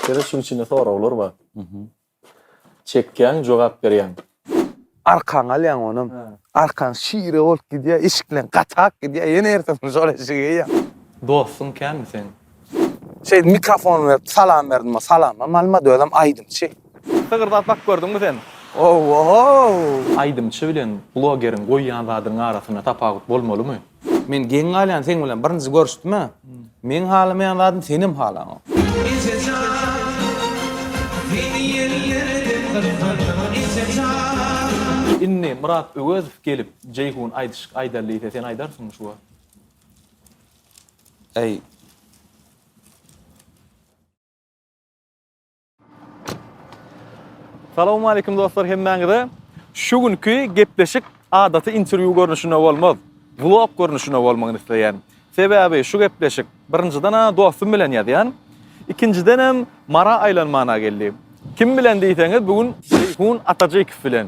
Ýöne şuň içinde soraglar bar. Çekýäň, jogap berýäň. Arkaňy alýaň onam. Arkaň şire bolup gidýär, eşikleň gatap gidýär, ýene ertesi gün şol eşigi geýýäň. Dostuň känmi seň? Şeýdip mikrofon berip salam berdim, salamam almady, özem aýdymçy. Sygyrdap bak gördüňmi sen? Ow-ow! Aýdymçy bilen blogeriň goýýan zadynyň arasynda tapawut bolmalymy? Men geň galýan seň bilen birinji görüşdüme. Meň halamaýan zadym senem halaňok. Inni Myrat Öwezow gelip Jeýhun aýdyşyk aýdaly diýse sen aýdarsyňmy şu wagt. Eý. Salawmaleýkim dostlar hemmäňize. Şu günki gepleşik adaty interwýu görnüşinde bolmaz. Vlog görnüşinde bolmagyny isleýän. Sebäbi şu gepleşik birinjiden a dostum bilen ýazýan. Ikinjiden hem mara aýlanmana geldi. Kim bilen diýseňiz bu gün Seýhun Atajykow bilen.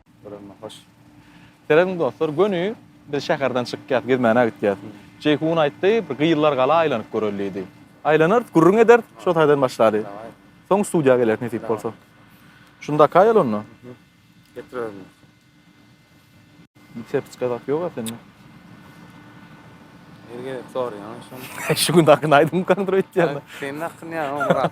Görende hoş. Seredin dostlar, göni biz şäherden çykýas, gezmäne gitýäs. Jeýhun aýtdy, bir gyzlar gala aýlanyp göreli diýdi. Aýlanarys, gürrüň ederis, şo taýdan başlady. Soň studiýa geleris nesip bolsa. Şunda kaýaly onda. Getirerin. Sertiçka zat ýoga sende. Her gezek soraýan şony. Şu gün hakyny aýdymkaňdyr öýtýän. Senin hakyny ýa Murat.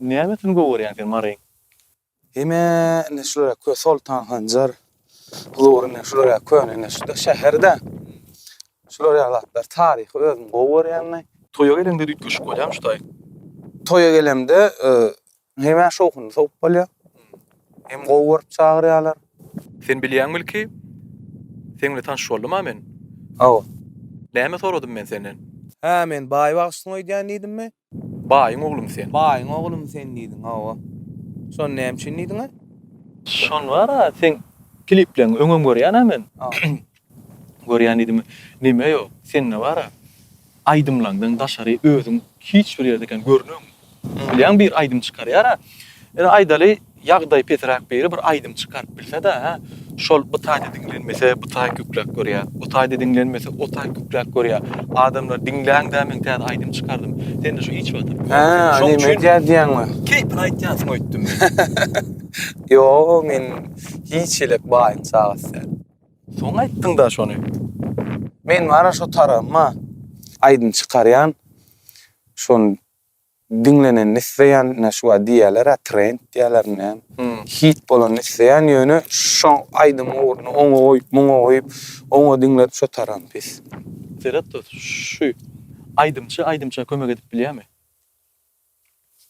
Nämesini gowy görýäň sen Maryň? Hemä-ne şulara kö Soltan Hanjar Huzur ine şulara köne ine şuda şäherde şular ýaly zatlar taryhy özüm gowy görýän men. Toýa geleňde üýtgeşik bolýamy şu taý? Toýa gelemde hemä şowhunly sowup bolýa. Hem gowy görüp çagyrýalar. Sen bilýäňmi ilki seň bilen tanyş boldum-a men? Hawa. Näme soradym men senden? Hä men baý bagşysyň öýdýän diýdimmi? Baýyň oglumy sen? Baýyň oglumy sen diýdiň, hawa. Şony näme üçin diýdiň-ä? Şony bar-a, seň klipleňi öňem görýän-ä men. Görýän diýdim, neme ýok, sende bar-a, aýdymlaňdan daşary özüň hiç bir ýerde kän görnegiň. Bilýäňmi, bir aýdym çykarýar-a, Ine, aýdaly, ýagdaýy pesräk biri bir aýdym çykaryp bilse-de, hä, şol bu taýda diňlenmese, bu taý kükrek görýär, o taýda diňlenmese, o taý kükrek görýär. Adamlar, diňläň-dä, men täze aýdym çykardym. Sende şu iç badyr. Hä, şoň üçin. Näme edýär diýýäňmi? Keýpine aýtýansyň öýtdüm men. Ýok, men hiç hili baýyň çagasy däl. Soň aýtdyň-da şony. Men bara şo tarabym-a. Aýdym çykarýan, şony Diňlenenini isleýän ine şu wagt diýýäler-ä trend diýýäler näme. Hit bolanyny isleýän ýöne şo aýdym ugruna oňa goýup muňa goýup oňa diňlep şo taram pis. Seret dos şu aýdymçy aýdymça kömek edip bilýämi?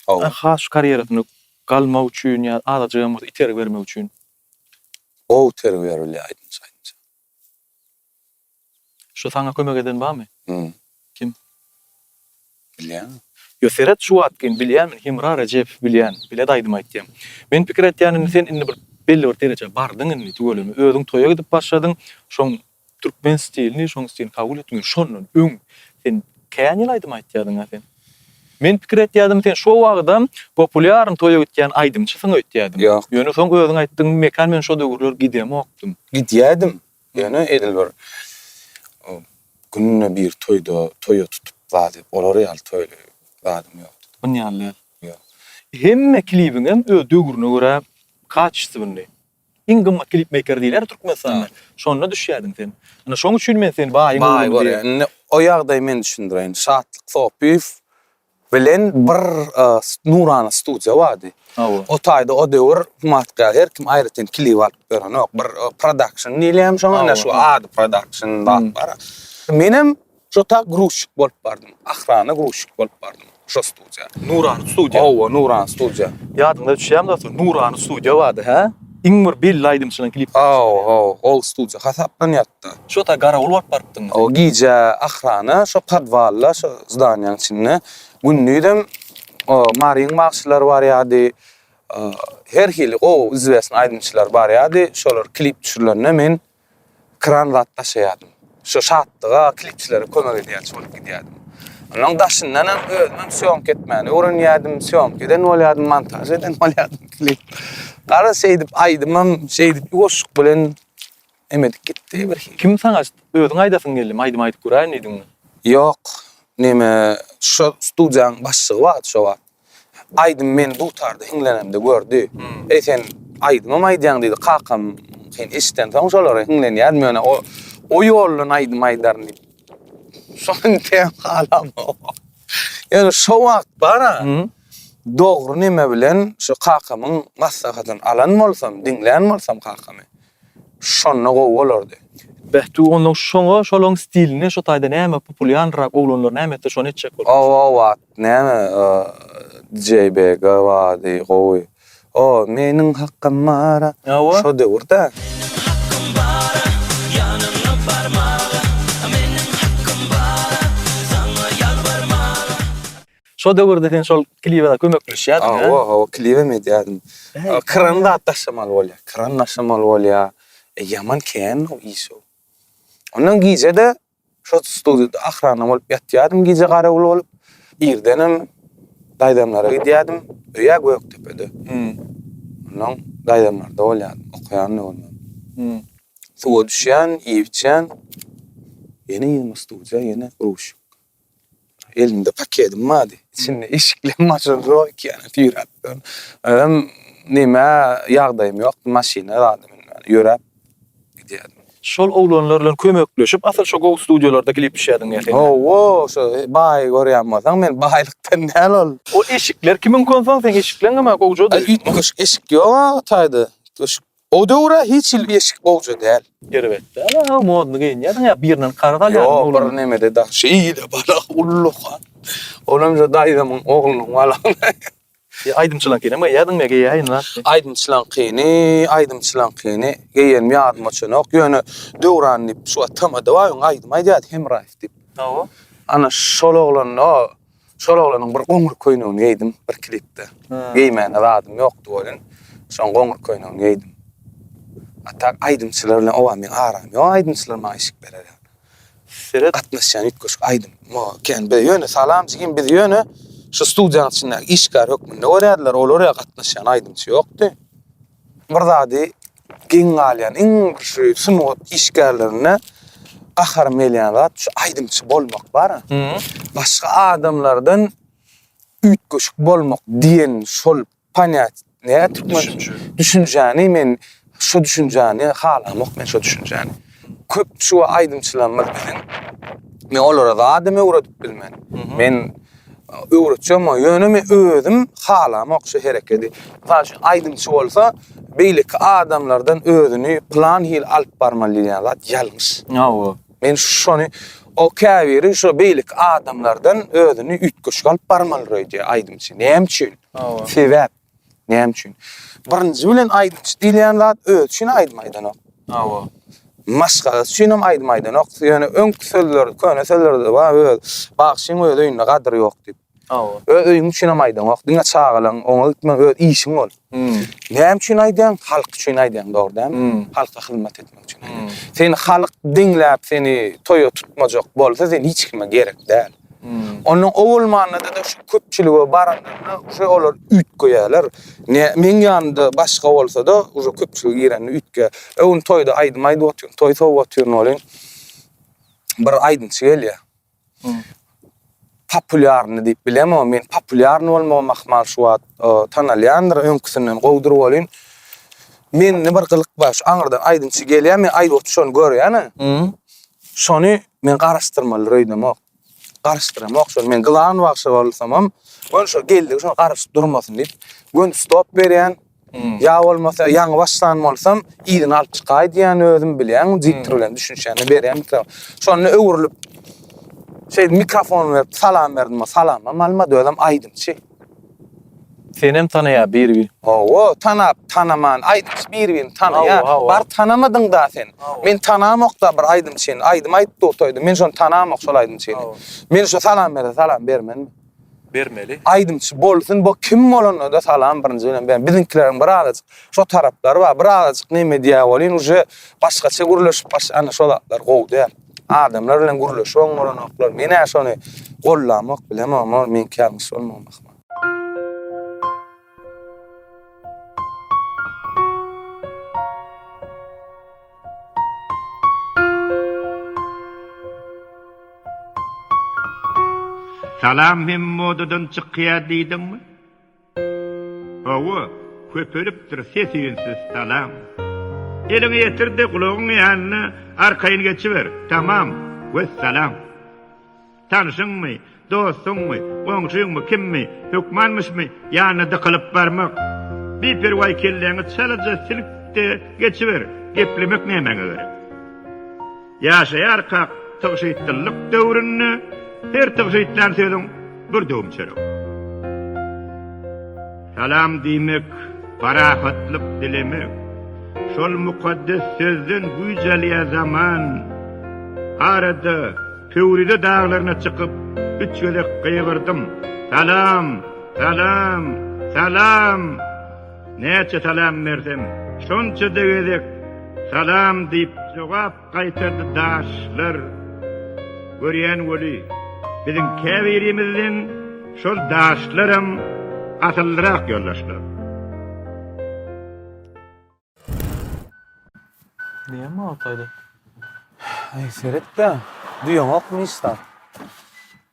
Hawa. Has karýerasyny galmak üçin ýa azajygam bolsa itergi bermek üçin. Gowy itergi berilýär aýdymçy aýdymça. Şu saňa kömek eden barmy? Hum. Kim? Bilýäňmi? Ýo, seret şu wagtgyn bilýän men Hemra Rejepow bilýän, bilet aýdym aýtýan. Men pikir etýän indi sen indi bir belli bir derejä bardyň indi tüweleme özüň toýa gidip başladyň şoň türkmen stilini şoň stilini kabul etdiň indi şondan öň sen kän ýyl aýdym aýtýadyňa sen. Men pikir etýädim sen şo wagydam populýarny toýa gitýän aýdymçysyň öýtýädim. Ýok. Ýöne soň özüň aýtdyň mekan men şo döwürler gidemokdym. Gidýädim. Ýöne edil bir günde bir toýda, toýa tutup zady, olar ýaly toýly zadym ýokdy. Bun ýaly däl. Ýok. Hemme klibiňem öz döwrüne görä kaçestwnyý. Iň gymmat klipmeýker diýler Türkmenistanda. Şonda düşýädiň sen. Ine şoň üçin men seni baýyň oglumy diýýän. Indi o ýagdaýy men düşündireýin. Şatlyk Sopyýew bilen bir nurana studiýa bardy. O taýda o döwür humatkär her kim aýratyn klip alyp berenok. Bir prodakşn diýilýärmi şoňa, ine şu ady prodakşn zat bar. Menem şo tak gruzçik bolup bardym. Ahrana gruzçik bolup bardym şo studiýa. Nurana studiýa. Hawa, nurana studiýa. Ýadyňda düşýärmi dostum, nurana studiýa bardy, hä? Iň bir belli aýdymçynyň klipleri çykarýardy. Hawa, hawa, ol studiýa hasaplanýardy. Şo wagtda garawul bolup barypdym. O gije ahrana şo podwalda, şo zdaniýanyň içinde, gündizem o maryň bagşylary barýardy, her hili gowy izwesn aýdymçylar barýardy. Şolar klip düşürilende men kran zat daşaýardym. Şo şatlyga klipçilere kömek edýänçi bolup gidýärdim. Onuň daşyndanam özümem sýomka etmäni öwrenýärdim, sýomka eden bolýardym, montaž eden bolýardym klip. Garaz şeýdip aýdymym, şeýdip goşgyk bilen Hem edip gitdi bir hili. Kim saňa özüň aýdasyň geldim, aýdym aýdyp göräýin diýdiňmi? Ýok, neme, şo studiýanyň başlygy bardy şo wagt. Aýdym meni dutarda hiňlenemde gördi. Eý sen aýdymam aýdýaň diýdi, kakam sen eşidensoň şolary hiňlenýädim ýöne o o ýoldan aýdym aýdaryn diýip. Şony teýem halamok. Ýöne şo wagt bar-a, dogry neme bilen şo kakamyň maslahatyny alan bolsam, diňlän bolsam kakamy. Şonda gowy bolardy. Beh tuganlar şoňa şolaň stilinde şo taýda näme populýanrak oglanlar näme etse şony etjek bolupdys. Ow ow at näme DJ Bega bady gowy o meniň hakym bara şo döwür dä. Meniň hakym bara ýanyňa barmaga meniň hakym bara saňa ýalbarmaga. Şo döwürde sen şol kliwe kömekleşýärdiň, hä? Hawa, hawa, kliwem edýärdim. Kran zat daşamaly bolýar. Kran daşamaly bolýar. E, ýaman kän o iş o. Ondan gije-de şo studiýada ahrana bolup ýatýardym, gije garawul bolup. Irdenem daýzamlara gidýärdim. Öýe Gökdepede. Ondan daýzamlarda bolýardym, okaýan-da bolman. Suwa düşýän, iýip-içýän, ýene ýene studiýa, ýene ruşik. Elimde pakedim bardy. Içinde eşikli maşyn zor ekeni süýräpdir. Özüm neme ýagdaýym ýokdy maşyna zada münmän. Ýöräp gidýärdim. Şol oglanlar bilen kömekleşip asyl şo gow studiýalarda klip düşýärdiň ýa sen. Hawa şo baýy görýän bolsaň men baýlykdan däl ol. Ol eşikler kimiňki onsoň seň eşikleň gama gowjady. Üýtgeşik eşik ýok a taýda. Üýtgeşik O döwre hiç hili eşik gowja däl. Erbet däl aga modny geýinýärsiň ýa birinden karz alýarmyň oglany. Ýok bir nemede daş şeýle bala ullaha. Olam şu daýzamyň oglunyň balagyny. E aýdymçylaňkyny geýýärdiňmi geýäýin lan. Aýdymçylaňkyny aýdymçylaňkyny geýenim ýadyma çönok ýöne Döwran diýip şu tamada bar ýoň aýdym aýdýardy Hemraýew diýip. Hawa. Ana şol oglan o. Şol oglanyň bir goňur köýnegini geýdim bir klipde. Geýmäne zadym ýokdy welin, şoň goňur köýnegini geýdim. A tak aýdymçylar bilen oba meň aram ýok, aýdymçylar maňa işik berer ýaly. Seret. Gatnaşýan üýtgeşik aýdym. Maňa kän be ýöne Salam jigim bizi ýöne şu studiýanyň içindäki işgär hökmünde görýärdiler, olar ýa gatnaşýan aýdymçy ýokdy. Bir zady geň galýan iň bir şu sungat işgärlerine gaharym gelýän zat şu aýdymçy bolmak bar. Başga adamlardan üýtgeşik bolmak diýen şol panýat näme türkmen düşünjäni men şu düşünjäni halamok men şu düşünjäni. Köp şuwa aýdymçylarymyz biziň. Men olara zadam öwredip bilmen. Men öwretjem o, ýöne men özüm halamok şu herekedi. Mysal üçin aýdymçy bolsa beýleki adamlardan özüni plan hili alyp barmaly diýýän zat ýalňyş. Hawa. Men şony o käbiri şu beýleki adamlardan özüni üýtgeşik alyp barmalyr öýdýär aýdymçy. Näme üçin? Hawa. Sebäp. Näme üçin? Birinji bilen aýdymçy diýilýän zat özi üçin aýdym aýdanok. Hawa. Maşgalasy üçin hem aýdym aýdanok. Ýöne öňki sözler, köne sözlerde bar öz bagşyň öz öýünde gadyr ýok diýip. Hawa. Öz öýüň üçin hem aýdanok. Diňe çagalaň oňa gitme öz işiň ol. Hmm. Näme üçin aýdýaň? Halk üçin aýdýaň, dogry dälmi? Hmm. Halka hyzmat etmek üçin. Hmm. Seni halk diňläp seni toýa tutmajak bolsa sen hiç kime gerek däl. Ondan owalmanda-da şu köpçülige baranda-da uje olar üýtgeýärler. Ne meň ýanymda başga bolsa-da, uje köpçülige girende üýtgeýär. Öý gün toýda aýdym aýdyp otyryn, toý sowup otyryn welin, bir aýdymçy gelýär. Populýarny diýip bilemok, men populýarny bolmagym ahmal şu wagt tanalýandyr, öňküsinden gowudyr welin, mende bir gylyk bar, şu aňyrdan aýdymçy gelýär, men aýdyp oturyşyny görýän-ä, şony Men garaşdyrmalydyr öýdemok. Garaşdyramok şony. Men gyzan bagşy bolsamam, göni şo geldigi şo garaşyp durmasyn diýip, göni stop berýän. Hmm. Ýa bolmasa ýaňy başlan bolsam, yzyny alyp çykaý diýýän özüm bilýän, diktor hmm. bilen düşünişende berýän mikrofon. Şonda öwrülip şeýdip mikrofon berip salam berdim. Salamam almady, özem aýdymçy. Senem tanaýa bir bir. Hawa tanap tanaman aýdymçy bir birini tanaýa. Bar tanamadyň da sen. Men tanamokda bir aýdymçyny. Aýdym aýdyp dursaýdym men şony tanamok şol aýdymçyny. Men şo salam berse salam bermenmi. Bermeli. Aýdymçy bolsun bo kim bolanda-da salam birinji bilen bermeli. Biziňkileriň bir azajyk şo taraplary bar. Bir azajyk neme diýä bolýyn uje başgaça gürleşip başlany şo zatlar gowy däl. Adamlar bilen gürleşip oň bolanoklar. Men-ä şony gollamok bilemok, ol meňki ýaly musulman ahmal. Salam hem modadan çykýar diýdiňmi? Hawa, köpelipdir ses-üýnsiz salam. Eliňi ýetir-de, gulagyň ýanyna arkaýyn geçiber. Tamam. Wessalam. Tanyşyňmy, dostuňmy, goňşyňmy, kimmi, hökmanmyşmy, ýanyna dykylyp barmak. Biperwaý kelläňi çalaja silik-de geçiber. Geplemek nämäňe gerek? Ýaşaýarkak tygşytlylyk döwründe her tygşytlän sözüň bir döwüm çörek. Salam diýmek, parahatlyk dilemek. Şol mukaddes sözden güýç alýar zaman. Arada, Pöwrize daglaryna çykyp, üç gezek gygyrdym, Salam! Salam! Salam! Näçe salam bersem, şonça-da gezek Salam diýip jogap gaýtardy daşlar. Görýän weli, biziň käbirimizden şol daşlaram asyllyrak ýoldaşlar. Diýýäňmi Altayda? Aý, seret-dä, duýaňokmy hiç zat?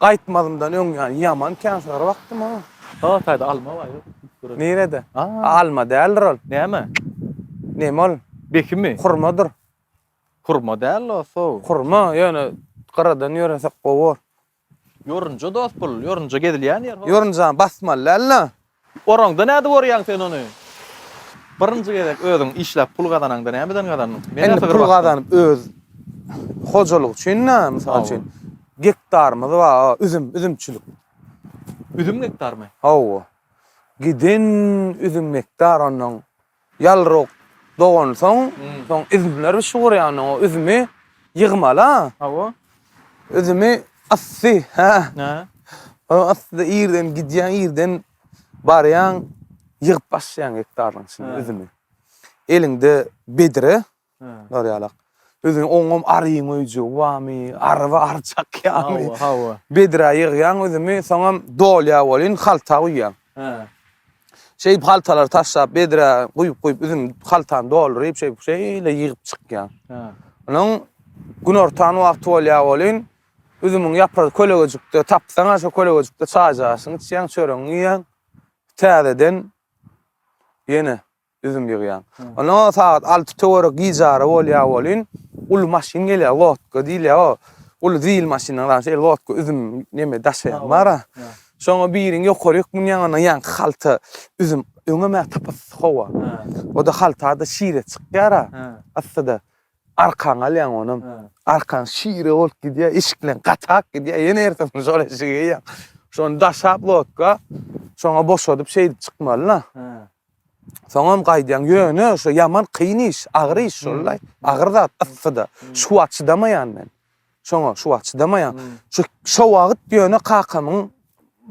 Gaýtmazymdan öň ýa ýaman känşygar bakdym ha. Sag taýda alma bar ýok. Nirede? Alma däldir ol. Näme? Neme ol? Bekimi? Hurmadyr. Hurma däl o sow. Hurma ýöne gyradan ýöresek gowy bor. Ýorunja dost bul, ýorunja gezilýän ýer ho. Ýorunjany basmaly däl-le. Oraňda nädip orýaň sen ony? Birinji gezek özüň işläp pul gazanaňda nämeden gazandyň? Menä Indi sygyr pul bakdyň. gazanyp öz hojalyk üçin-de, mysal Hawa. üçin, gektarymyz bar, a, üzüm, üzümçilik. Üzüm gektarymy? Hawa. Giden üzüm gektar onnoň Ýalrok dogansoň, soň üzümler bişip gurýandan o üzümi ýygmala. Hawa. Üzümi yssy, hä? Hä. O yssyda irden gidýäň, irden barýaň, ýygyp başlaýaň hektaryň içinde üzümi. Eliňde bedre. Nur ýalak. Özüň oňam aryň öýjügi barmy? Aryba ary çakýaňmy? Hawa, hawa. Bedrä ýygýaň üzümi, soňam dolýar welin halta guýýaň. Hä. Şeýdip haltalary taşlap bedrä guýup-guýup üzüm haltany dolduryp şeýdip şeýle ýygyp çykýaň. Hä. Onuň günortan wagty bolýar welin üzümiň ýapra kölegejikde tapsaň-a şo kölegejikde çaýjy aşyňy içýäň, çöregiňi iýýäň. Täzeden ýene Üzüm ýygýan. Ondan soň sagat alty töwerek gijaýry bolýar welin, uly maşyn gelýär, lodka diýilýär, o uly zil maşyndan galan şeýle lodka üzüm neme daşaýan bar-a. Şoňa biriň ýokaryk münýän, ondan ýaňky halta üzüm, öňem-ä tapasy howa. O-da halta-da şire çykýar-a, yssyda. Arkaňy alýaň onam. Arkaň şire bolup gidýär, eşikleň gatak gidýär, ýene ertesini şol eşigi geýýäň. Şony daşap lodka, şoňa boşadyp şeýdip çykmaly-da. Soňam gaýdýaň. Ýöne şo ýaman kyn iş, agyr iş şol-laý. Agyr zat, yssy-da. Şu wagt çydamaýan men. Şoňa şu wagt çydamaýan. Şu şo wagt ýöne kakamyň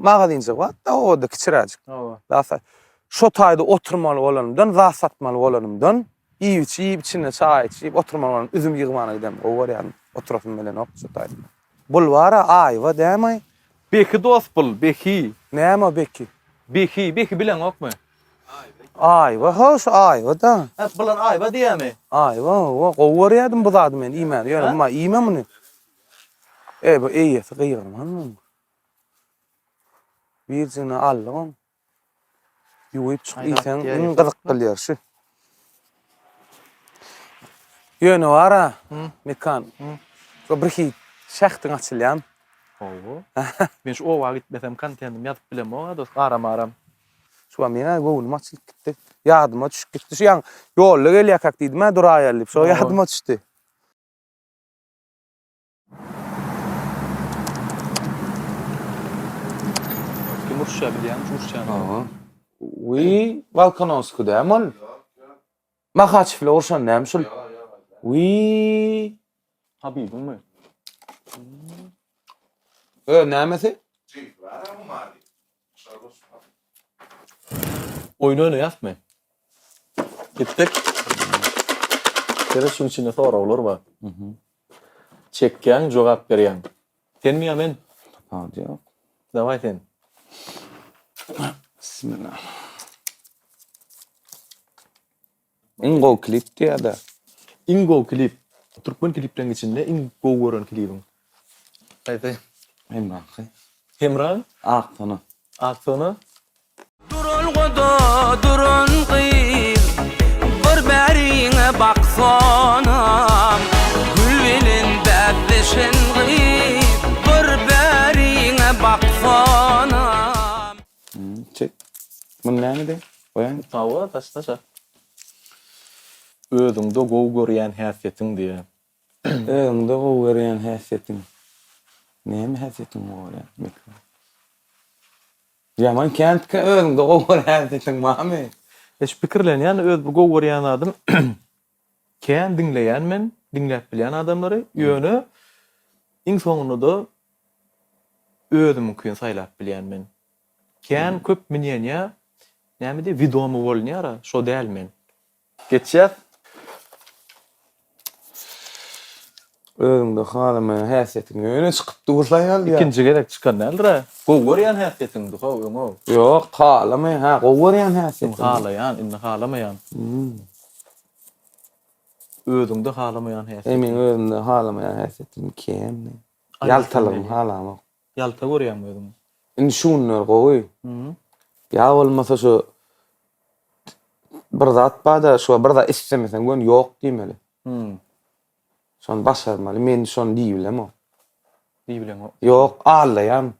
magazynjygy bar-da obada kiçiräjik. Oba. Zat sat. Şo taýda oturmaly bolanymdan, zat satmaly bolanymdan, iýip-içip, içinde çaý içip oturmaly bolanymdan üzüm ýygmana gidemok. Gowy görýärin. Oturasym gelenok şo taýda. Bulwara aýwa dämaý. Beki dos bul beki. Näme o beki. Beki beki bileňokmy. Aýwa ho şu aýwa da. Hep bular aýwa diýämi. Aýwa owo gowy görýädim bu zady men iýmäni ýöne umma iýme muny. Eý bu eýesi gygyrmanmy. Birjigine aldyk ony. Ýuwup çyk iýseň iň gyzykly ýer şu. Ýöne wara, Mekan. Şu bir hit şähdiň açylýan. Hawa. Men şu oba gitmesem kontentim ýazyp bilemok a dos garam aram. Şuba meň-ä göwnüm açylyp gitdi. Ýadyma düşüp gitdi. Şu ýaňy ýolda gelýärkäk diýdim-ä duraýaly diýip. Şo ýadyma düşdi. Kim urşa bilýän, urşan. Aha. Wi Balkanovski däm ol. Mahaçewle urşan näm şul? Wi Habibiň mi? Ö nämesi? Oýun oýnaýasmy? Gitdik. Seret şuň içinde soraglar bar. Çekýäň, jogap berýäň. Senmi ýa men? Tapawudy ýok. Daway sen. Bismillah. Iň gowy klip diýada. Iň gowy klip. Türkmen klipleň içinde iň gowy gören klibiň. Haýsy? Hemraňky. Hemraň? Ak sona. Ak sona. Duralgada duran gyz Bir bäriňe baksana. Gül bilen bäsleşen gyz Bir bäriňe baksana. Çek. Muny nämede goýaýyn? Hawa, daşda çak. Özüňde gowy görýän häsiýetiň diýä. Özüňde gowy görýän häsiýetiň. Näme häsiýetiň gowy görýän? Meselem. Ýaman käntika özüňde gowy görýän häsiýetiň barmy? Eş pikirlenýän öz bir gowy görýän zadym. Kän diňleýän men, diňläp bilýän adamlary, ýöne iň soňunda-da özümiňkini saýlap bilýän men. Kän köp minýenýä, näme diýýär, widomy bolunýar-a, şo däl men. Geçýäs. Özüňde halamaýan häsiýetiň öne çykyp dursa ýaly ýa. Ikinji gezek çykan däldir-ä. Gowy görýän häsiýetiňdi how öňe. Ýok, halamaýan, hä, gowy görýän häsiýetim. Öň halaýan, indi halamaýan. Hum. Özüňde halamaýan häsiýetiň. Eý, meň özümde halamaýan häsiýetim kem. Ýaltalygymy halamok. Ýalta görýäňmi özüňi? Indi şu günler gowy. Hum. Ýa bolmasa şu bir zat bar-da, şuňa bir zat islemeseň göni ýok diýmeli. Hum. Şony başarmaly, men şony diýibilemok. Diýibileňok. Ýok, allaýan.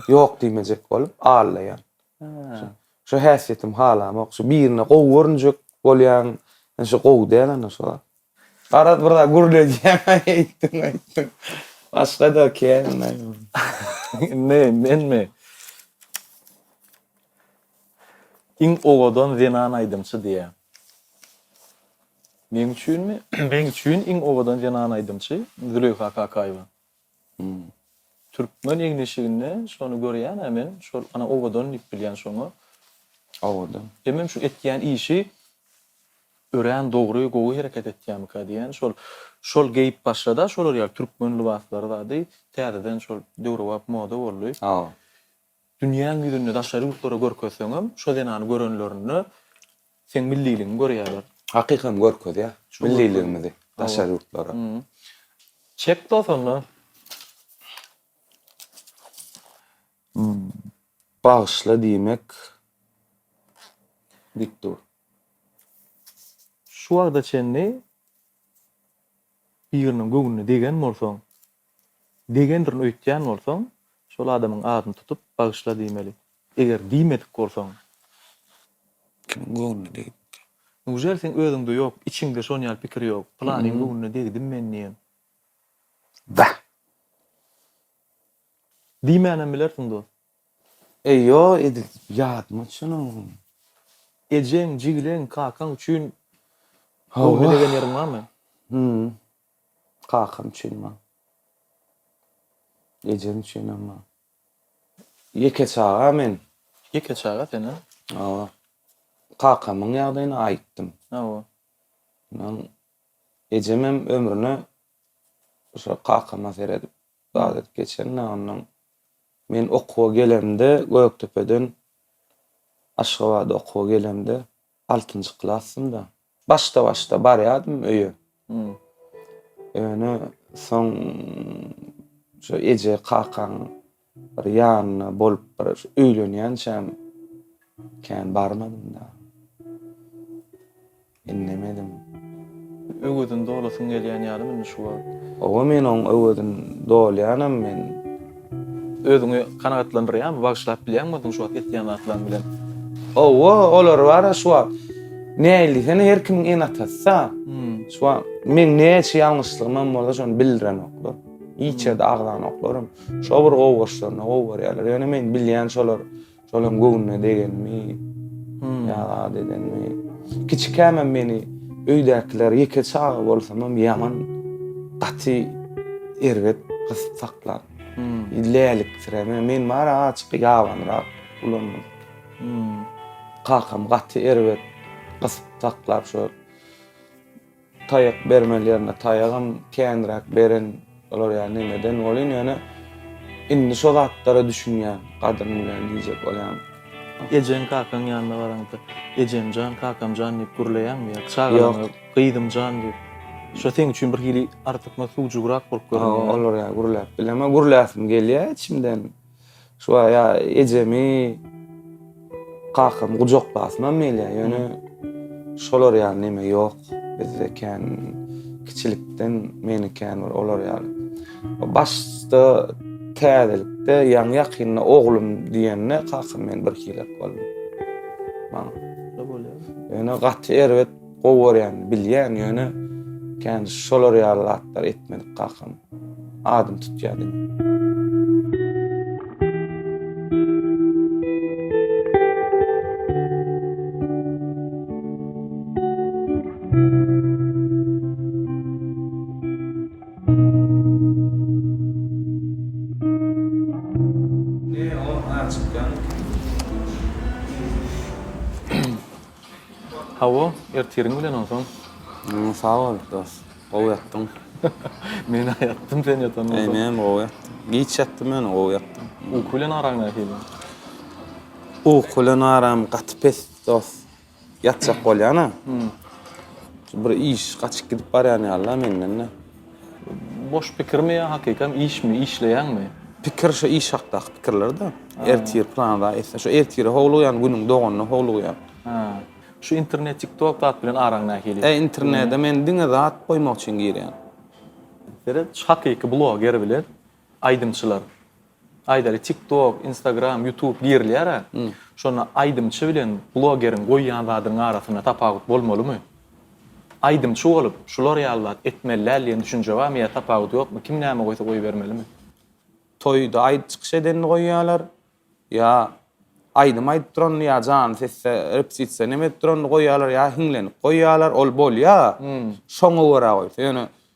Ýok diýmejek bolup, allaýan. Hä. Şu häsiýetim halamok. Şu birine gowy görünjek bolýaň, ýöne şu gowy däl ana şu. Garaz bir zat gürledýäň, aý eýtdiň, aýtdyň. Başga-da kän, aý. Indi menmi? Iň owadan zenan aýdymçy diýýär. Meň üçinmi? Meň üçin iň owadan zenan aýdymçy Züleýha Kakaýewa. Türkmen egin-eşiginde şony görýän-ä men, şol ana owadan diýip bilýän şoňa. Owadan. Hemem şu etýän işi örän dogry, gowy hereket etýämikä diýýän. Şol şol geýip başlady-a şolar ýaly türkmen lybaslary zady, täzeden şol döwrebap moda boldy. Hawa. Dünýäň ýüzünde daşary ýurtlara görkezseňem, şo zenany görenlerinde seň milliligiňi görýärler. Hakykam görkezýär milliligimizi daşary ýurtlara. Çek dos onda. Bagyşla diýmek git dur. Şu wagta çenli biriniň göwnüne degen bolsaň, Degendirin öýtýän bolsaň, şol adamyň adyny tutup, bagyşla diýmeli. Eger diýmedik bolsaň. Kimiň göwnüne degipdir? Newjel seň özüňde ýok, içiňde şon ýaly pikir ýok? Pylanyň göwnüne degdim men diýen. Bäh! Diýmänem bilersiň dost. Eý, ýo, edil ýadyma düşenogam. Ejeň, jigileň, kakaň üçin göwnüne degen ýeriň barmy? Hum. Kakam üçin bar. Ejem üçin hem bar. Ýeke çaga men. Ýeke çaga sen-ä? Hawa. Kakamyň ýagdaýyny aýtdym. Hawa. Ondan ejem hem ömrüne şo kakama seredip zat edip geçen-dä, ondan men okuwa gelemde Gökdepeden Aşgabada okuwa gelemde, Altynjy klasdym-da. Başda-başda barýardym öýe. Ýöne soň şu eje, kakaň bir ýanynda bolup bir öýlenýänçäm kän barmadym-da. Indemedim. Öwezini dolasyň gelýän ýalymy indi şu wagt? Hawa, men oň öwezini dolýanam men. Özüňi kanagatlandyrýarmy, bagyşlap bilýäňmi özüňi şu wagt etýän zatlaryň bilen? Hawa, olar bar-a şu wagt. Nähili sen her kimiň ene-atasy-a. Şu wagt meň näçe ýalňyşlygymam bolsa şony bildirenoklar. Hiç ýerde agzanoklar hem. Şo bir gowy goşlaryna gowy görýärler. Ýöne men bilýän şolar Şolam göwnüne degenmi, ýa zat edenmi? Kiçikämem meni öýdäkiler ýeke çaga bolsamam ýaman gaty erbet gysyp saklar. Läliksireme, men bary azajyk ýabanyrak ulanmadyk. Kakam gaty erbet gysyp saklar şo. Taýak bermeli ýerinde taýagam känräk beren bolar ýa nemeden bolyn ýöne indi şo zatlara düşünýän gadryny bilýän diýjek bolýan. Ejeň kakaň ýanyna baraňda Ejemjan kakamjan diýip gürleýäňmi ýa çagalaňa Gyzymjan diýip şo seň üçin birhili artykmaç sugjugrak bolup görünýärmi? Olar ýa gürläp bilemok gürläsim gelýä içimden. Şu aya ejemi kakam gujaklasynam meýle ýöne şolar ýaly neme ýok bizde kän kiçilikden meni kän bir olar ýaly başda täzelikde ýaňy ýakynda oglum diýende kakam men bir hilet boldum maňa ýöne gaty erbet Gowy görýän, bilýän, ýöne kän şolar ýaly zatlar etmedik kakam. Adyny tutýa diýip. Hawa, ertiriň bilen onsoň. Hmm, sag bol, dos. Gowy ýatdyň. Men-ä ýatdym, sen ýatandan soň. Eýýäm gowy ýatdym. Giç ýatdym ýöne gowy ýatdym. Uky bilen araň nähili? Uky bilen aram gaty pes, dos. Ýatjak bolýan-a. Hmm. Bir iş gaçyp gidip barýan ýaly-la menden-de. Boş pikirmi ýa hakykam işmi, işleýäňmi? Pikir şo iş hakdaky pikirler-de. Ertir plan zat etse, şo ertire howlugýan, günüň doganyna howlugýan. Hä. Şu internet, TikTok zat bilen araň nähili? Hä, internede men diňe zat goýmak üçin girýän. Seret, şu hakyky bloger bilen Aýdymçylar. Aýdaly tik tok, instagram, ýutub girilýär-ä. Şonda aýdymçy bilen blogeriň goýýan zadynyň arasynda tapawut bolmalymy? Aýdymçy bolup, şular ýaly zat etmeli däl diýen düşünje barmy ýa tapawudy ýokmy? Kim näme goýsa goýbermelimi? Toýda aýdyp çykyş edenini goýýarlar. Ýa aýdym aýdyp duranyny ýa janly sesde repetisiýa neme edip duranyny goýýarlar ýa hiňlenip goýýarlar. Ol bolýar. Şoňa görä goýsa. Ýöne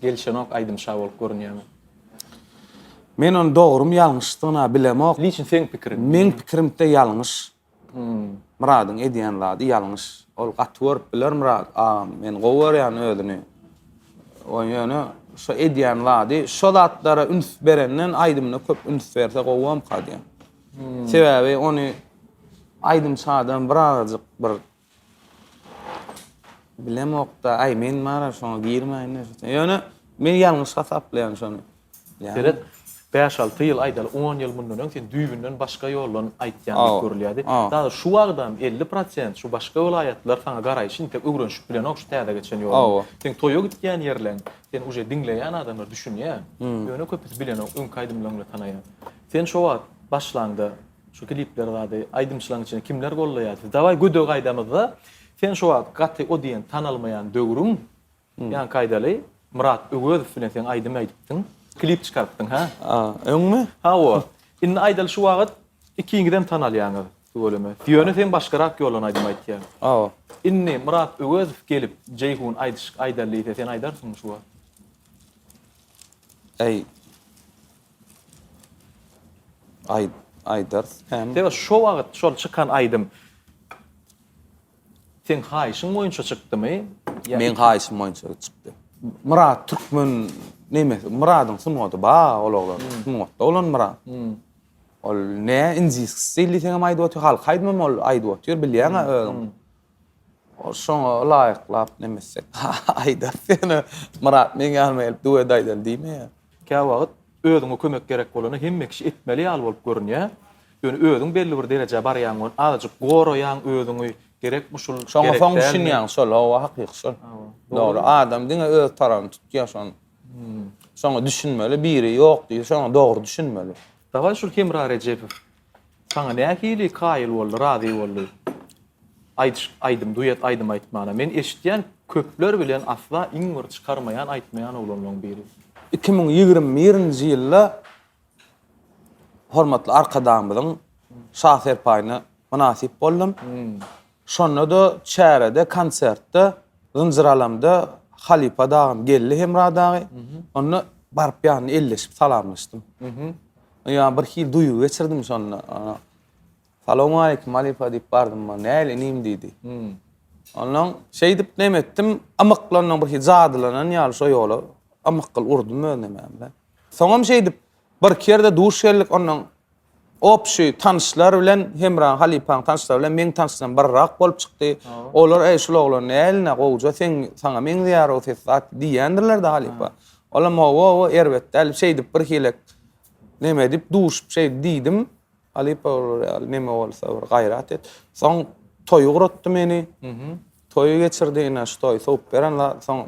Gelişenok aýdymşa bolup görünýäňiz. Men ony dogrymy ýalňyşdygyna bilemok. Liçin seň pikiriň. Meň pikirimde ýalňyş. Myradyň edýän zady ýalňyş. Ol gaty görüp biler Myrat agam. Men gowy görýän özüni. Oý ýöne şo edýän zady şo zatlara üns berenden aýdymyna köp üns berse gowamka diýýän. Sebäbi ony aýdymçadan birazajyk bir Bilemokda, aý men bara şoňa girmäýin näşe. Ýöne men ýalňyş hasaplaýan şony. Seret, bäş-alty ýyl, aýdaly, on ýyl mundan öň sen düýbünden başga ýoldan aýtýan diýip görülýärdi. Dagy şu wagtam elli prosent şu başga welaýatlar saňa garaýşy intek öwrenişip bilenok şu täze geçen ýoluň. Seň toýa gitýän ýerleň, seni uje diňleýän adamlar düşünýär. Ýöne köpüsi bilenok, öňki aýdymlaryňda tanaýar. Sen şo wagt başlaňda Şu klipler zady aýdymçylaň içinde kimler gollaýar siz daway gödege gaýdamyzda sen şu wagt gaty o diýen tanalmaýan döwrüň ýaňky aýdaly Myrat Öwezow bilen sen aýdym aýdypdyň klip çykarypdyň hä a öňmi hawa indi aýdaly şu wagyt ikiňizem tanalýaňyz tüweleme ýöne sen başgarak ýoldan aýdym aýtýaň hawa indi Myrat Öwezow gelip Jeýhun aýdyşyk aýdaly diýse sen aýdarsyňmy şu wagt. Eý. Aý, aýdars hem. Sebäbi şo wagyt şol çykan aýdym seň haýyşyň boýunça çykdymy? Meň haýyşym boýunça çykdy. Myrat türkmen nemesi, Myradyň sungady ba ol oglan, sungatda bolan Myrat. Ol ne indiski stil diýseňem aýdyp otyr, halk aýdymam ol aýdyp otyr, bilýäňä özüň. Ol şoňa laýyklap nemesek, Aýdar, sen-ä Myrat meň ýanyma gelip duet aýdaly diýme-ä. Käwagt özüňe kömek gerek bolanda hemme kişi etmeli ýaly bolup görünýär. Ýöne özüň belli bir derejä barýaň we azajyk goraýaň özüňi, gerekmi şul, gerek dälmi. Şoňa soň düşünýäň, şol, hawa, hakyky şol. Dogry, adam diňe öz tarapyny tutýar şony. Şoňa düşünmeli, biri ýok diýse şoňa dogry düşünmeli. Dawaý şul Hemra Rejepow Saňa nähili kaýyl boldy, razy boldy? Aýdyş, aýdym, duet aýdym aýtmana. Men eşitýän köpler bilen asla iň bir çykarmaýan aýtmaýan oglanlaň biri. Iki müň ýigrimi birinji ýylda hormatly Arkadagymyzyň şa serpaýyna mynasyp boldum. Şonda-da çärede, konsertde zynjyralamda halypa dagym geldi Hemra dagy. Onda baryp ýanyna elleşip salamlaşdym. Ýa bir hili duýgy geçirdim şonda. Salowmaleýkim halypa diýip bardym men. Näl inim diýdi. Ondan şeýdip neme etdim, ymyklandan bir hili jadylanan ýaly şo ýola ymykgyl urdum özüne men-de. Soňam şeýdip bir-iki ýerde duş geldik ondan Opşy tanyşlar bilen Hemra halypaň tanyşlary bilen meň tanyşlarym birrak bolup çykdy. Olar eý şul oglan näline gowja seň saňa meňzeýär o ses zat diýendirlerde halypa. Olam owowo erbet däl şeýdip bir hile neme edip duşup şeýdi diýdim. Halypa olar ýaly neme bolsa bir gaýrat et. Soň toýy guratdy meni. Toýy geçirdi ine şu toý sowup beren zat soň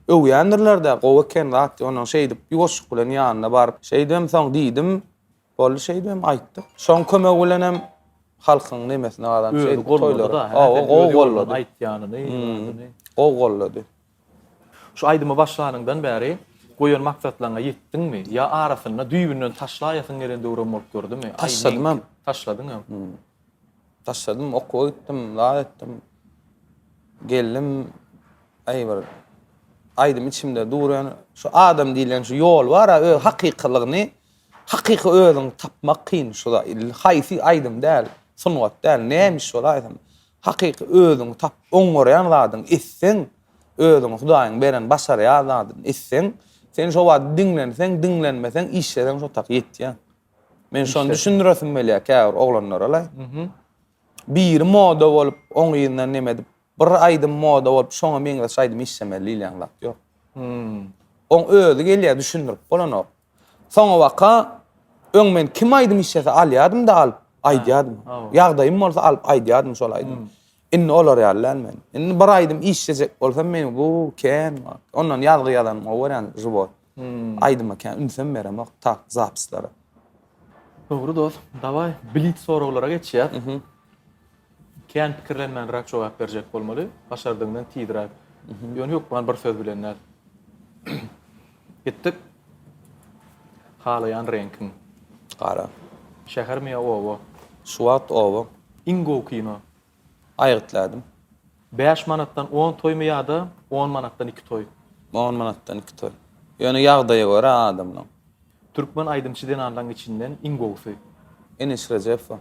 öwýändirlerde gowy eken zat ýonuň şeýdip ýuwaşlyk bilen ýanyna baryp şeýdibem soň diýdim. Boldy şeýdibem aýtdyk. Şoň kömegi bilenem halkyň nemesini gazanyp şeýdip toýlary. Hawa, gowy gollady. Aýtýanyny, ýördüni. Gowy gollady. Şu aýdymy başlanyňdan bäri goýan maksatlaryňa ýetdiňmi? Ýa arasynda düýbünden taşlaýasyň gelen döwrem bolup durdumy? Taşladymam. Taşladyňam. Taşladym, okuwa gitdim, zat etdim. Geldim, aý bir aýdym içimde dur ýöne şu adam diýlen şu ýol bar-a, öz hakykylygyny Hakyky özüňi tapmak kyn şuda ille haýsy aýdym däl sungat däl nämiş bolaýsyn hakyky özüňi tap oň görýän zadyň etseň özüňi hudaýyň beren başarýar zadyň etseň sen şo wagt diňlenseň diňlenmeseň işleseň şo tak ýetýäň men şony düşündiresim gelýär käbir oglanlaralaý biri moda bolup oň yzyndan neme edip bir aýdym moda bolup şoňa meňzeş aýdym işlemeli diýilýän zat ýok oň özi gelýär düşündirip bolanok. Soňabaka öň men kim aýdym islese alýadym-da alyp, aýdýadym. Ýagdaýym bolsa alyp aýdýadym şol aýdymy. Indi olar ýaly däl men. Indi bir aýdym islejek bolsam meniň bu kän wagt. Ondan ýazgy ýazanym gowy görýän żywot. Aýdyma kän ünsem beremok tak zapislara. Dogry dos. Dawaý, blitz soraglara geçýäs. Kän pikirlenmänräk jogap berjek bolmaly, başardygyňdan tizräk. Ýöne hökman bir söz bilen däl. Gitdik. Halaýan reňkiň. Gara. Şähermi ýa oba? Şu wagt oba. Iň gowy kino? Aýgytlädim. Bäş manatdan on toýmy ýa-da on manatdan iki toý? On manatdan iki toý. Ýöne ýagdaýa görä adamlaň. Türkmen aýdymçy zenanlaň içinden iň gowusy? Enis Rejepowa.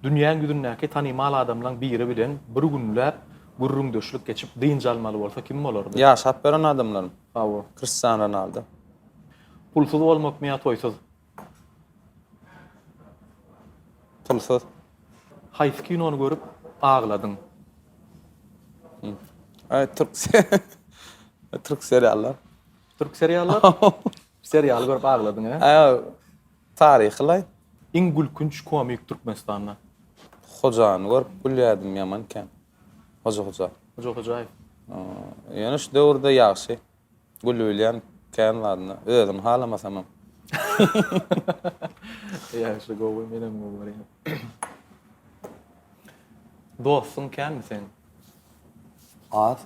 Dünýäň ýüzündäki tanymal adamlaň biri bilen bir günläp gürrüňdeşlik geçip dynç almaly bolsa kim bolardy? Ýaşap ýören adamlarym. Hawa. Kristian Ronaldo. Pulsuz bolmakmy ýa toýsuz? Pulsuz. Haýsy kinony görüp agladyň? Aý türk türk seriallar. Türk seriallar? Serial görüp agladyň he? Aý taryhy laý. Iň gülkünç komik Türkmenistanda. Hojany görüp gülýärdim ýaman kän. Hoja Hoja. Hoja Hojaýew. Ýöne şu döwürde ýagşy. Gülübilýän kän zadynda. Özüni halamasamam. Ýagşy gowy, menem gowy görýän. Dostuň känmi seň? Az.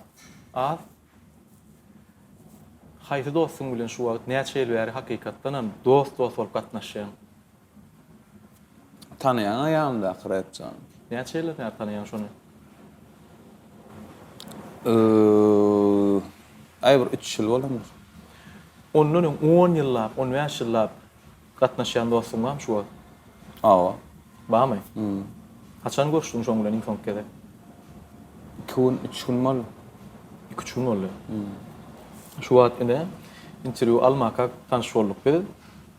Az? Haýsy dostuň bilen şu wagt, näçe ýyl bäri hakykatdanam dost-dost bolup gatnaşýaň? Tanaýaňa ýanyndaky räpçäni? Näçe ýyldan bäri tanaýaň şony? Öööö aý bir üç ýyl bolandyr. Ondan öň on ýyllap, on bäş ýyllap gatnaşýan dostuň bamy şu wagt? Hawa. Bamy? Hum. Haçan görüşdiň şoň bilen iň soňky gezek? Iki gün, üç gün boldy. Iki, üç gün boldy. Hum. Şu wagt ine interwýu almaka tanyş bolduk biz.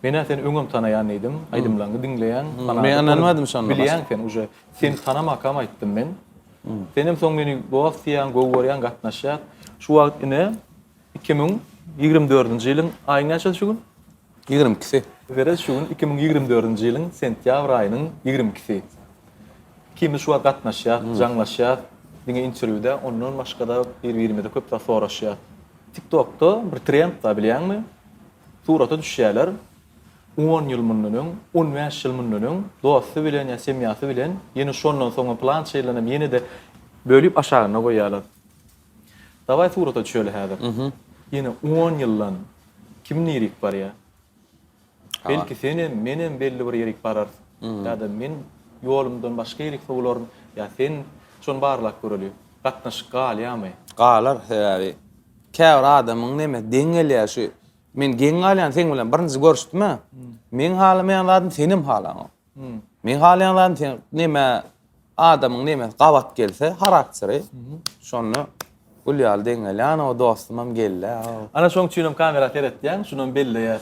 Men-ä seni öňem tanaýan diýdim, aýdymlaňňy diňleýän, ganadyp bilýän sen uje. Seni tanamakam aýtdym men. Senem soň meni dost diýýäň, gowy görýäň, gatnaşýas. Şu wagt ine iki müň ýigrimi dördünji ýylyň aýyň näçesi şu gün? Ýigrimi ikisi. Serez şu gün iki müň ýigrimi dördünji ýylyň sentýabr aýynyň ýigrimi ikisi. Ikimiz şu wagt gatnaşýas, jaňlaşýas. Diňe interwýuda, ondan başga-da bir-birimize köp zat soraşýas. Tiktokda bir trend bar bilýäňmi? Surata düşýärler. On ýyl mundan öň, on bäş ýyl mundan öň dosty bilen ýa semýasy bilen, ýene şondan soňam plança ýyldanam ýene-de bölüp aşagyna goýýarlar. Dawaý surata düşeli häzir. Ýene on ýyldan kim nirik barýar? Belki senem, menem belli bir ýerik bararys. Ýa-da men ýolumdan başga ýerik sowularyn, ýa sen. Şony barlap göreli. Gatnaşyk galýamy? Galar sebäbi. Käbir adamyň neme geň gelýär şu men geň galýan seň bilen birinji görüşdüme meň halamaýan zadym senem halaňok. Meň halaýan zadym sen neme adamyň neme gabat gelse harakteri şonda gül ýaly deň gelýär o dostumam geldi. Ana şoň üçinem kamera seretýän şunam belleýär.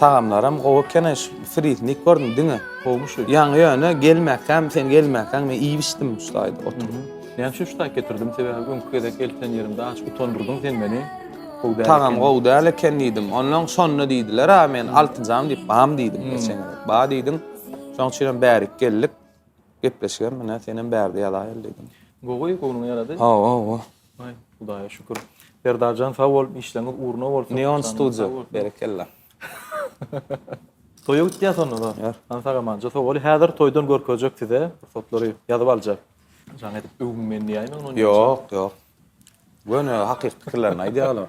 Tagamlaram gowy ekeni şu frizini iýip gördüm diňe. Gowmy şu? Ýaňy ýöne gelmäkäm sen gelmäkäň men iýip içdim şu taýda oturyp. Men şu taý getirdim sebäbi öňki gezek eltýän ýerimde aç utandyrdyň sen meni. Gowy däl. Tagam gowy däl eken diýdim. Onnoň şonda diýdiler a men altynjam diýip bam diýdim geçen gezek. Ba diýdiň. Şoň üçinem bärik geldik. Gepleşigem menä senem bärde ýazaýyl diýdim. Gowy göwnüňe ýarady. Hawa hawa. Aý, Hudaýa şükür. Serdarjan sag bol, işleňiz ugruna bolsun. Neon Studio, berekella. Toýa gitýäs onda-da. Ýör. Hany sag-amança sag bol. Häzir toýdan görkezjek size pursatlary, ýazyp aljak. Jaň edip öwünmän diýäýmeň ony. Ýok, ýok. Göni hakyky pikirlerini aýdýar olar.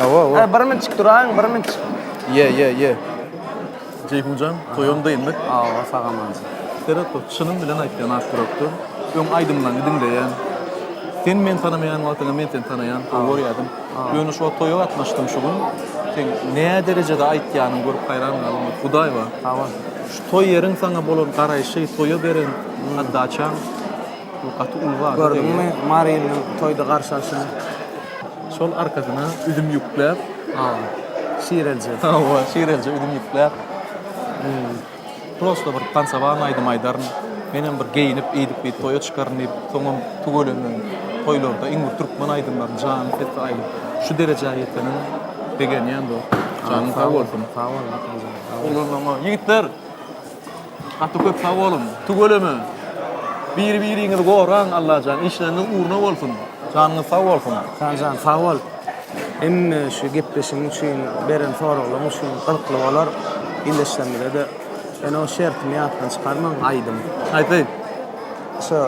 Awa, awa. Ee, bir min çik duraň, bir min çik. Ye, ye, ye. Ceyhunjan, toyam da indik. Awa, sagaman. Seret bak, çynym bilen aýtýan ak ýürekde. Öň aýdymlaňy diňleýän. Sen men tanamaýan wagtyňa men seni tanaýan, gowy görýädim. Ýöne şu wagt toýa gatnaşdym şu gün. Sen nä derejede aýtýanyňy görüp haýran galdym. Hudaý bar. Awa. Şu toý ýeriň saňa bolan garaýşy, toýa beren atdaçaň. Bu gaty uly wada degýär. Gördüňmi Marynyň toýda garşy alşyny. Şol arkasyna üzüm ýükläp. Hawa. Şirelje. Hawa, şirelje üzüm ýükläp. Prosta bir tansowan aýdym aýdaryn. Menem bir geýinip, eýdip-beýdip toýa çykaryn diýip, soňam tüweleme toýlarda iň bir türkmen aýdymlaryny janyň sesi aýdyp, şu derejä ýetenim begenýän dost. Janyň sag bolsun. Sag bol Makan jan. Sag bol. Ýigitler! Gaty köp sag boluň. Tüweleme. Bir biriňizi goraň Allajan işleriňiz ugruna bolsun. Janyňyz sag bolsun. Sanjan sag bol. Hemme şu gepleşigiň üçin beren soraglaň üçin gyzykly bolar. Ildeşlerimize de ene o şertini ýatdan çykarmaň aýdym. Aýt aýt. Şo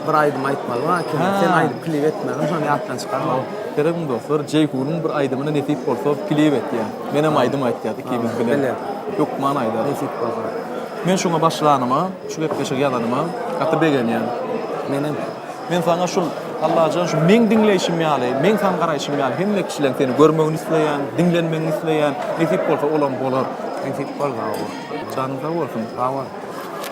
bir aýdym aýtmaly bar ekeni. Ha. Sen aýdyp klip etmeliň, şony ýatdan çykarma. Seredin dostlar, Jeýhunyň bir aýdymyny nesip bolsa klip etýän. Men hem aýdym aýtýas ikimiz bilen. Bile. Hökman aýdarys. Nesip bolsa. Men şuňa başlanyma, şu gepleşigi ýazanyma gaty begenýän. Men hem. Men saňa şul Allajan şu meň diňleýşim ýaly, meň saňa garaýşym ýaly hemme kişileň seni görmegini isleýän, diňlenmegini isleýän. Nesip bolsa olam bolar. Nesip bolsa, hawa. Janyň sag bolsun. Sag bol.